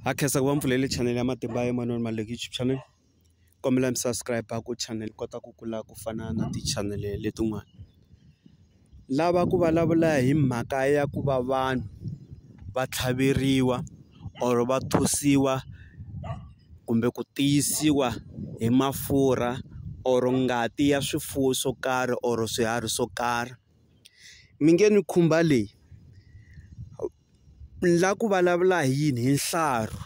ha khensa ku va mpfulele channel ya matimba ya Emmanuel Maluleke YouTube channel kombela mi subscribe ku channel kota ku kula ku fana na ti-channel letin'wana lava ku vulavula hi mhaka ya ku va vanhu va tlhaveriwa or va thosiwa kumbe ku tiyisiwa hi mafurha or ngati ya swifuwo swo karhi or swiharhi swo karhi mi nge ni khumba leyi. Ni la ku vulavula hi yini hi nhlaru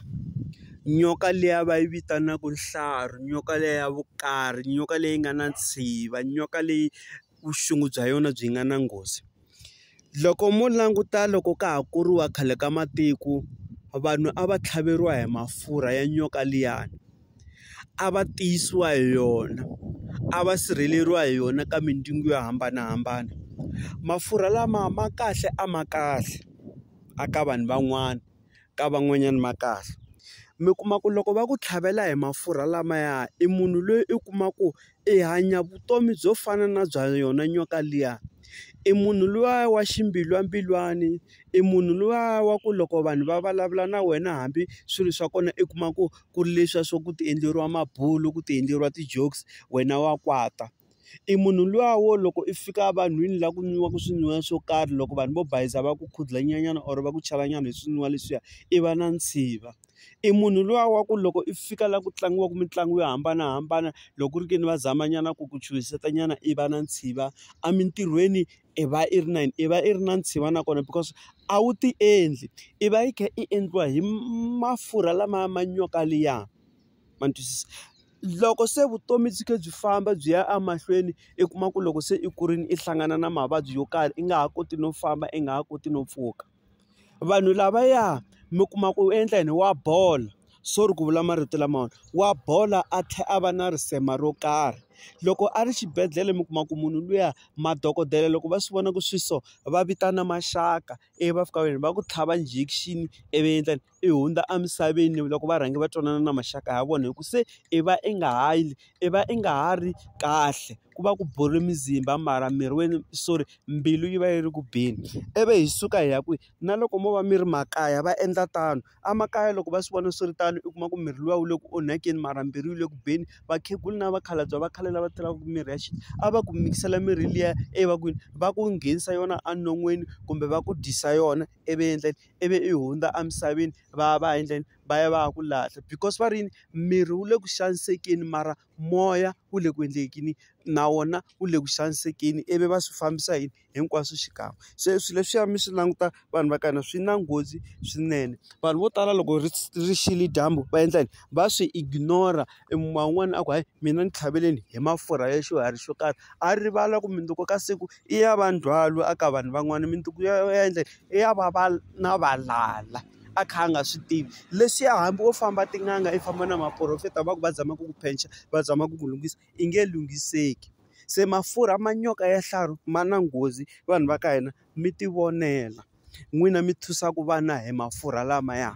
nyoka liya va yi vitanaka nhlaru nyoka liya ya vukari nyoka leyi nga na ntshikilelo nyoka leyi vuxungu bya yona byi nga na nghozi loko mo languta loko ka ha kuriwa khale ka matiko vanhu a va tlhaveriwa hi mafurha ya nyoka liyani. a va tiyisiwa hi yona a va sirheleriwa hi yona ka mindzungu yo hambanahambana mafurha lama ma kahle a ma kahle a ka vanhu van'wana ka van'wanyana ma kahle mi kuma ku loko va ku tlhavela hi mafurha lamaya i munhu loyi i kuma ku i hanya vutomi byo fana na bya yona nyoka liya. I munhu luya wa ximbilwambilwani, i munhu luya wa ku loko vanhu va vulavula na wena hambi swilo swa kona i kuma ku ku ri leswiya swa ku ti endleriwa mabulo, ku ti endleriwa ti-jokes wena wa kwata. I munhu luya wo loko i fika evanhwini laha ku nwiwaka swinwiwa swo karhi loko vanhu vo bayizisa va ku khudlanyana or va ku chavanyana hi swinwiwa leswiya, i va na ntshiva. i munhu luya wa ku loko i fika laha ku tlangiwaka mitlangu yo hambanahambana loko ku ri ke ni va zama nyana ku ku chuhiseta nyana i va na ntshika emintirhweni i va i ri na yini i va i ri na ntshika nakona because a wu ti endli i va i kha i endliwa hi mafurha lamaya ma nyoka liya ma ni twisisa loko se vutomi byi kha byi famba byi ya emahlweni i kuma ku loko se i kurile i hlangana na mavabyi yo karhi i nga ha koti no famba i nga ha koti no pfuka. vanhu lavaya mi kuma ku endla yini wa bola sorry ku vula marito lamawani wa bola a tlhela a va na risema ro karhi loko a ri xibedhlele mi kuma ku munhu luya madokodela loko va swi vona ku swi so va vitana maxaka ivi va fika va yini va ku tlhava injection ivi va endla yini. i hundza emisaveni loko va rhange va twanana na maxaka ya vona hi ku se i va i nga ha yi i va i nga ha ri kahle ku va ku bole mizimba mara miri wena sorry mbilu yi va yi ri ku beni ivi hi suka hi ya kwihi na loko mo va mi ri makaya va endla tano emakaya loko va swi vona swi ri tano u kuma ku miri luya wu le ku onhakeni mara mbilu yi le ku beni vakhegula na vakhalabye va khale lava tirhaka mirhi ya xintu a va ku mikisela mirhi liya evakwini va ku nghenisa yona enon'wini kumbe va ku dyisa yona ivi endla. ivi i hundza emisaveni va ya va ya endleni va ya va ya ku lahla because va ri yini miri wu le ku xanisekeni mara moya wu le ku endleni na wona wu le ku xanisekeni ivi va swi fambisa yini hinkwaswo xikan'we se swilo leswiya mi swi languta vanhu va ka hina swi na nghozi swinene vanhu vo tala loko ri ri xile dyambu va endla yini va swi ignore i kuma un'wana a ku hayi mina ni tlhaveleni hi mafurha ya xiharhi xo karhi a rivala ku mundzuku ka siku i ya va ndzhwalo a ka vanhu van'wana mundzuku ya yena i ya va va na valala a kha a nga swi tivi leswiya hambi wo famba tin'anga i famba na maporofeta va ku va zama ku ku phenxa va zama ku ku lunghisa i nge lunghiseki se mafurha ma nyoka ya xihlahla ma na nghozi vanhu va ka hina mi tivonela. n'wina mi thusaka vana hi mafurha lamaya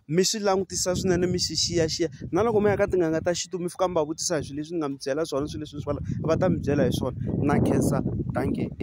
mi swi langutisa swinene mi swi xiyaxiya na loko mi ya ka tin'anga ta xintu mi fika mi va vutisa hi swilo leswi ni nga mi byela swona swilo leswi va ta mi byela hi swona na khensa dankie.